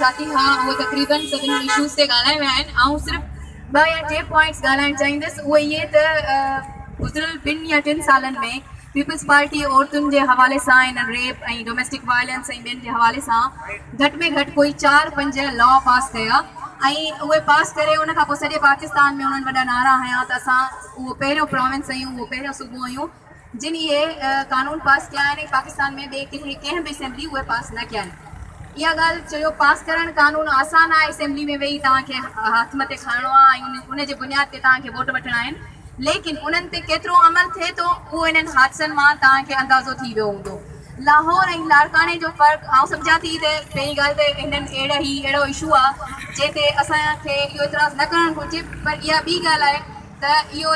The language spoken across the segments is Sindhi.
ساٿي، ها هو تقريبن سڀني اشوز تي ڳالهائي ويا آهن، آئون صرف ٻه يا ٽي پوائنٽس ڳالهائڻ چاهيندس اهي اهي ته گذريل ٻن يا ٽن سالن ۾ پيپلز پارٽي عورتن جي حوالي سان ان ريپ ۽ ڊوميسٽڪ وائلنس ۽ ٻين جي حوالي سان گهٽ ۾ گهٽ ڪوئي چار پنج لا پاس ڪيا ۽ اهي پاس ڪري ان کان پوء سڄي پاڪستان ۾ انهن وڏا نعرا هنيا ته اسان اهو پهريون پراونس اهيون اهو پهريون صوبو اهيون. جن اهي قانون پاس ڪيا آهن ۽ پاڪستان ۾ ٻي ڪنهن ڪنهن به اسيمبلي اهي پاس نه ڪيا آهن. اها ڳالهه چيو پاس ڪرڻ قانون آسان آهي اسيمبلي ۾ ويهي توهان کي هٿ مٿي کڻڻو آهي ۽ ان جي بنياد تي توهان کي ووٽ وٺڻا آهن ليڪن انهن تي ڪيترو عمل ٿئي ٿو اهو انهن حادثن مان توهان کي اندازو ٿي ويو هوندو لاهور ۽ لاڙڪاڻي جو فرق آئون سمجهان ٿي ته پهرين ڳالهه ته هنن اهڙا هي اهڙو اشو آهي جنهن تي اسان کي اهو اعتراض نه ڪرڻ گهرجي پر اها ٻي ڳالهه آهي ته اهو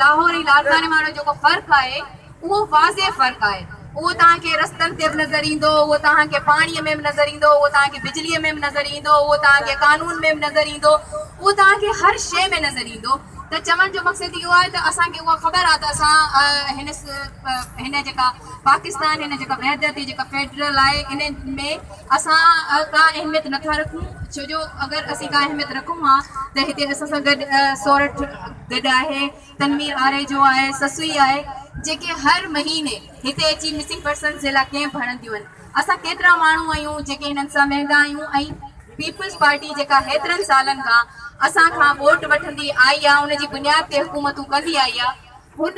لاهور ۽ لاڙڪاڻي مان اهڙو جيڪو فرق آهي، اهو واضح فرق آهي. اهو توهان کي رستن تي به نظر ايندو، اهو توهان کي پاڻيء ۾ به نظر ايندو، اهو توهان کي بجليء ۾ به نظر ايندو، اهو توهان کي قانون ۾ به نظر ايندو، اهو توهان کي هر شيء ۾ نظر ايندو. ته چوڻ جو مقصد اهو آهي ته اسان کي اها خبر آهي ته اسان هن هن جيڪا پاڪستان هن جيڪا وحدت هي جيڪا فيڊرل آهي، ان ۾ اسان ڪا اهميت نه ٿا رکون ڇو جو اگر اسين ڪا اهميت رکون ها ته هتي اسان سان گڏ سورٺ گڏ آهي، تنوير آريجو آهي، سسئي آهي جيڪي هر مهيني هتي اچي مسنگ پرسنز جي لاء ڪيمپ هڻنديون آهن. اسان ڪيترا ماڻهو آهيون جيڪي هنن سان ويهندا آهيون ۽ پيپلز پارٽي جيڪا هيترن سالن کان اسان کان ووٽ وٺندي آئي آهي ان جي بنياد تي حڪومتون ڪندي آئي آهي هن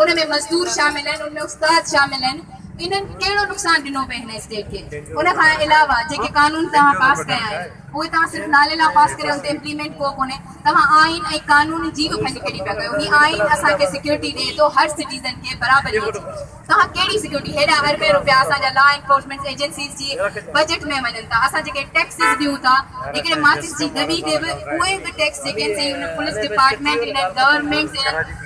ان ۾ مزدور شامل آهن، ان ۾ استاد شامل آهن، انهن ڪهڙو نقصان ڏنو پئي هن اسٽيٽ کي؟ ان کان علاوه جيڪي قانون توهان پاس ڪيا آهن اهي توهان صرف نالي لاء پاس ڪري ان تي امپليمينٽ ڪو ڪونهي، توهان آئين ۽ قانون جي به ڀڃ ڦيري پيا ڪيو، هي آئين اسان کي سيڪيورٽي ڏئي ٿو هر سٽيزن کي برابريء جي، توهان ڪهڙي سيڪيورٽي، هيڏا اربين روپيا اسان جا لا انفورسمينٽ ايجنسيز جي بجيٽ ۾ وڃن ٿا، اسان جيڪي ٽيڪسز ڏيون ٿا، هڪڙي ماچس جي دٻي تي به اهي به ٽيڪس جيڪي آهن سي ان پوليس ڊپارٽمينٽ انهن گورنمينٽس انهن.